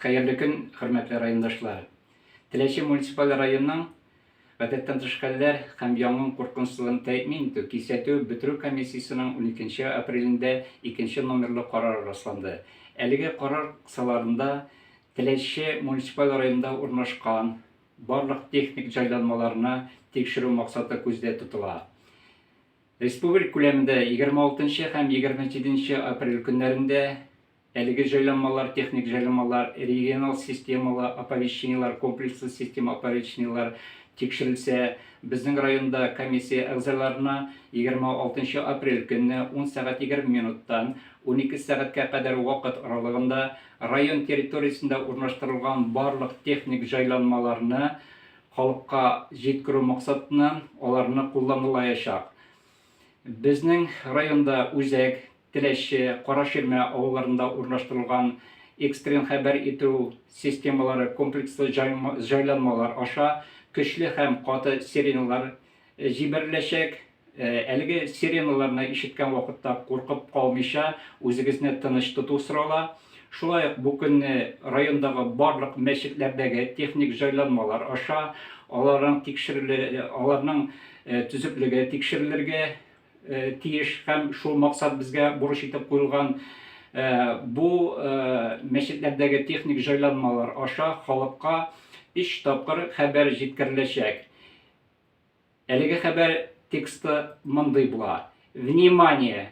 Хәерле көн, хөрмәтле райондашлар! Теләче муниципаль районының Гадәттән тыш хәлләр һәм янгын куркынычсызлыгын тәэмин итү, кисәтү, бетерү комиссиясенең уникенче апрелендә икенче номерлы карары расланды. Әлеге карар кысаларында Теләче муниципаль районында урнашкан барлык техник җайланмаларны тикшерү максаты күздә тотыла. Республик күләмендә егерме алтынчы һәм егерме җиденче апрель көннәрендә Әлеге җайланмалар техник җайланмалар, региональ системалы оповещениеләр, комплекслы система оповещениеләр тикшерелсә, безнең районда комиссия әгъзаларына 26 нчы апрель көнне ун сәгать егерме минуттан унике сәгатькә кадәр вакыт аралыгында район территориясендә урнаштырылган барлык техник җайланмаларны халыкка җиткерү максатыннан аларны кулланылаячак Безнең районда Үзәк, Теләче, Караширмә авылларында урнаштырылган экстрен хәбәр итү системалары комплекслы җайланмалар аша көчле һәм каты сиреналар җибәреләчәк. Әлеге сиреналарны ишеткән вакытта куркып калмыйча, үзегезне тыныч тоту сорала. Шулай ук бу көнне райондагы барлык мәчетләрдәге техник җайланмалар аша аларның тикшерелү, аларның. төзеклеге тикшерелергә тиеш һәм шул максат безгә бурыч итеп куелган. Бу мәчетләрдәге техник җайланмалар аша халыкка өч тапкыр хәбәр җиткереләчәк. Әлеге хәбәр тексты мондый була. Внимание!